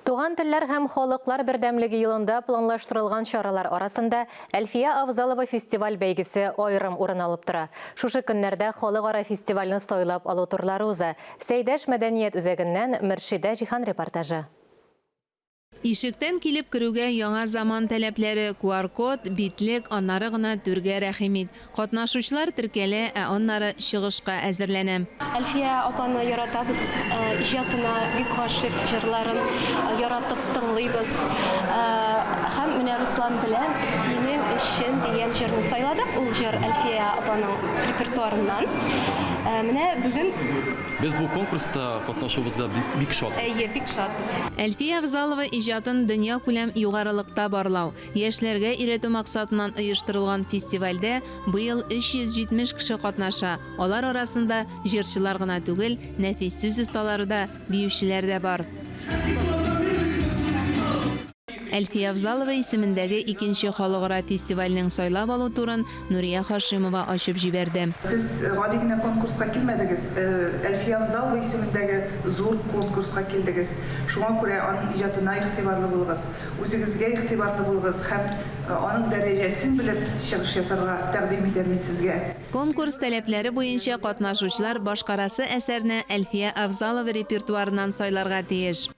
Туган телләр һәм халыклар бердәмлеге елында планлаштырылган чаралар арасында Әлфия Авзалова фестиваль бәйгесе аерым урын алып тора. Шушы көннәрдә халыкара фестивальне сайлап алу турлары уза. Сәйдәш мәдәният үзәгеннән Мөршидә Җиһан репортажы. Ишектән килеп керүгә яңа заман таләпләре, QR-код, битлек, аннары гына түргә рәхим ит. Катнашучылар теркәлә, ә аннары чыгышка әзерләнә. Әлфия апаны яратабыз, иҗатына бик гашыйк, җырларын яратып тыңлыйбыз. Һәм менә Руслан белән Синең өчен дигән җырны сайладык. Ул җыр Әлфия апаның репертуарыннан. Менә бүген. Без бу конкурста катнашуыбызга бик шатбыз. Әйе, бик шатбыз. Әлфия Авзалова иҗатын дөньякүләм югарылыкта барлау, Яшьләргә өйрәтү максатыннан оештырылган фестивальдә быел 370 кеше катнаша, алар арасында җырчылар гына түгел, нәфис сүз осталары да, биючеләр дә бар. Әлфия Авзалова исемендәге икенче халыкара фестивальнең сайлап алу турын Нурия Хашимова ачып җибәрде. Сез гади генә конкурска килмәдегез, Әлфия Авзалова исемендәге зур конкурска килдегез. Шуңа күрә аның иҗатына игътибарлы булыгыз, үзегезгә игътибарлы булыгыз һәм аның дәрәҗәсен белеп чыгыш ясарга тәкъдим итәм мин сезгә. Конкурс таләпләре буенча катнашучылар башкарасы әсәрне Әлфия Авзалова репертуарыннан сайларга тиеш.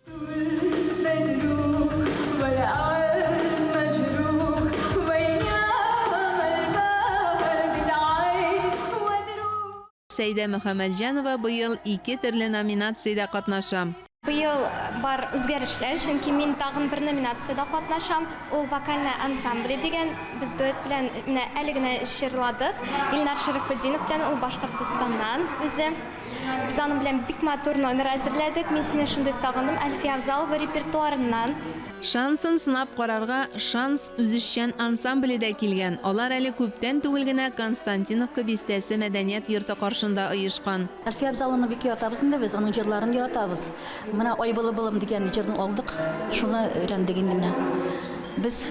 Сәйдә Мөхәммәтҗанова быел ике төрле номинациядә катнаша. Быел бар үзгәрешләр, чөнки мин тагын бер номинациядә катнашам, ул Вокальная ансамбле дигән. Без дуэт белән менә әле генә җырладык. Илнар Шәрәфетдинов белән, ул Башкортостаннан үзе. Без аның белән бик матур номер әзерләдек, Мин сине шундый сагындым, Әлфия Авзалова репертуарыннан. Шансын сынап карарга Шанс үзешчән ансамбле дә килгән, алар әле күптән түгел генә Константиновка бистәсе мәдәният йорты каршында оешкан. Әлфия Авзалованы бик яратабыз инде без, аның җырларын яратабыз. Менә Ай былы-былым дигән җырны алдык, шуны өйрәндек инде менә. Без,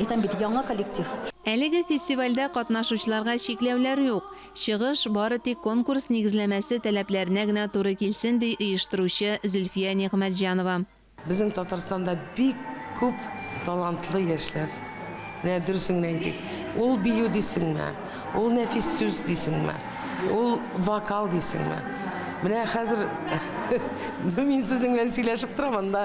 әйтәм бит, яңа коллектив. Әлеге фестивальдә катнашучыларга чикләүләр юк. Чыгыш бары тик конкурс нигезләмәсе таләпләренә генә туры килсен, ди оештыручы Зөлфия Нигъмәтҗанова. Безнең Татарстанда бик күп талантлы яшьләр. Менә дөресен генә әйтик, ул бию дисеңме, ул нәфис сүз дисеңме, ул вокал дисеңме. Менә хәзер мин сезнең белән сөйләшеп торам, анда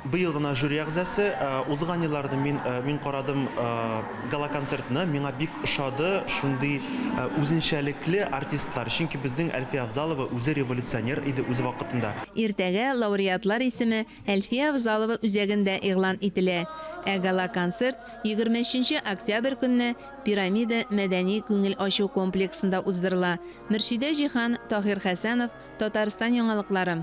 Быел гына жюри әгъзасы. Узган елларны мин мин карадым гала-концертны. Миңа бик ошады шундый үзенчәлекле артистлар. Чөнки безнең Әлфия Авзалова үзе революционер иде үз вакытында. Иртәгә лауреатлар исеме Әлфия Авзалова үзәгендә игълан ителә. Ә гала-концерт егерме өченче октябрь көнне Пирамида мәдәни-күңел ачу комплексында уздырыла. Мөршидә Җиһан, Таһир Хәсәнов, Татарстан яңалыклары.